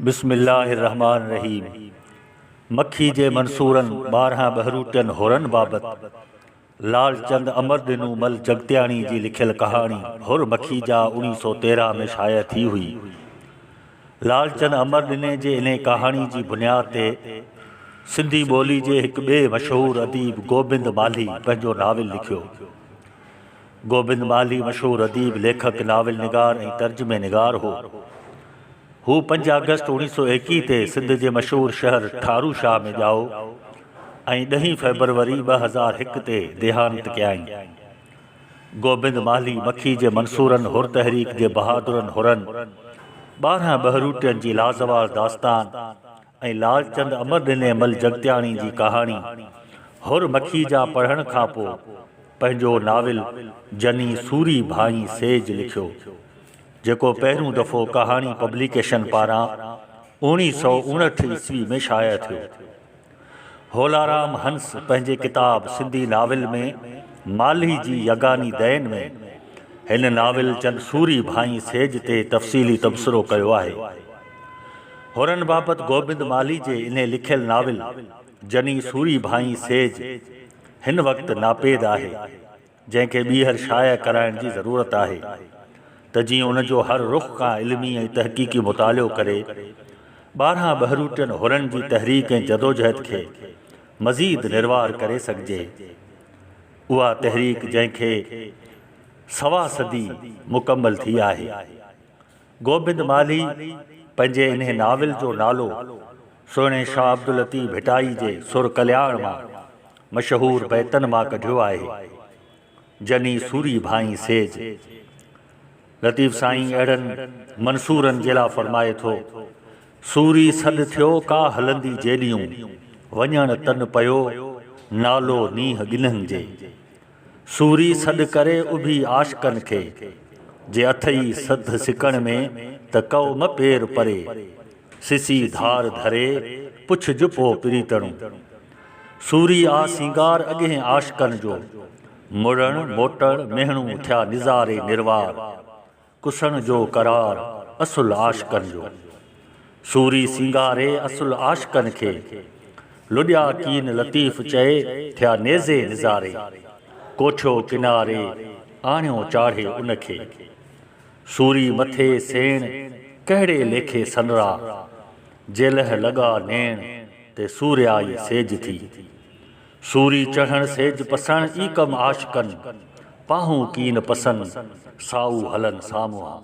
بسم الله الرحمٰن الرحيم مکي جي منصورن ٻارهن ٻهروٽين حرن بابت لعل چند امر ڏنو مل جڳتياڻي جي لکيل ڪهاڻي حر مکي جا اوڻي سو تيرهن ۾ شايع ٿي هئي. لعل چند امر ڏني جي انهي ڪهاڻي جي بنياد تي سنڌي ٻولي جي هڪ ٻئي مشهور اديب گوبند مالهي پنهنجو ناول لکيو. گوبند مالهي مشهور اديب، ليکڪ، ناول نگار ۽ ترجمي نگار هو. هو پنج آگسٽ اوڻيهه سؤ ايڪيهه تي سنڌ جي مشهور شهر ٺارو شاهه ۾ ڄائو ۽ ڏهين فيبروري ٻه هزار هڪ تي ديهانت ڪيائين. گوبند مالهي مکي جي منصورن حر تحريڪ جي بهادرن حرن، ٻارهن ٻهروٽين جي لازوال داستان، ۽ لالچند امر ڏني مل جڳتياڻي جي ڪهاڻي حر مکي جا پڙهڻ کان پوء پنهنجو ناول جني سوري ڀائين سيج لکيو، جيڪو پهريون دفعو ڪهاڻي پبليڪيشن پاران اوڻيهه سؤ اڻهٺ عيسوي ۾ شايع ٿيو. هولارام هنس پنهنجي ڪتاب سنڌي ناول ۾ مالهي جي يگاني دين ۾ هن ناول جن سوري ڀائين سيج تي تفصيلي تبصرو ڪيو آهي. هرن بابت گوبند مالهي جي انهي لکيل ناول جني سوري ڀائين سيج هن وقت ناپيد آهي، جنهن کي ٻيهر شايع ڪرائڻ جي ضرورت آهي ته جيئن ان جو هر رخ کان علمي ۽ تحقيقي مطالعو ڪري ٻارهان ٻهروٽين هرن جي تحريڪ ۽ جدوجهد کي مزيد نروار ڪري سگهجي. اها تحريڪ جنهن کي سوا صدي مڪمل ٿي آهي. گوبند مالهي پنهنجي انهي ناول جو نالو سهڻي شاهه عبداللطيف ڀٽائي جي سر ڪلياڻ مان مشهور بيتن مان ڪڍيو آهي، جني سوري ڀانئي سيج. لطيف سائين اهڙن منصورن جي لا فرمائي ٿو، سوري سڏ ٿيو ڪا هلندي جيڏيون، وڃڻ تن پيو نالو نينهن ڳنهن جي. سوري سڏ ڪري اڀي عاشقن کي، جي اٿئي سڌ سڪڻ ۾، ته ڪئو مه پير پري، سسي ڌار ڌري، پڇج پو پريتڻون. سوري آ سينگار اڳهين عاشقن جو، مڙڻ موٽڻ مهڻو ٿيا نظاري نروار، ڪسڻ جو قرار اصل عاشقن جو. سوري سينگاري اصل عاشقن کي. لڏيا ڪين لطيف چئي ٿيا نيزي نظاري. ڪوٺيو ڪناري آڻيو چاڙهي ان کي. سوري مٿي سيڻ ڪهڙي ليکي سنرا. جيلهه لڳا نيڻ تي سوريائي سيج ٿي. سوري چڙهڻ سيج پسڻ ئي ڪم عاشقن، پاهون ڪين پسن سائو هلن سامهون.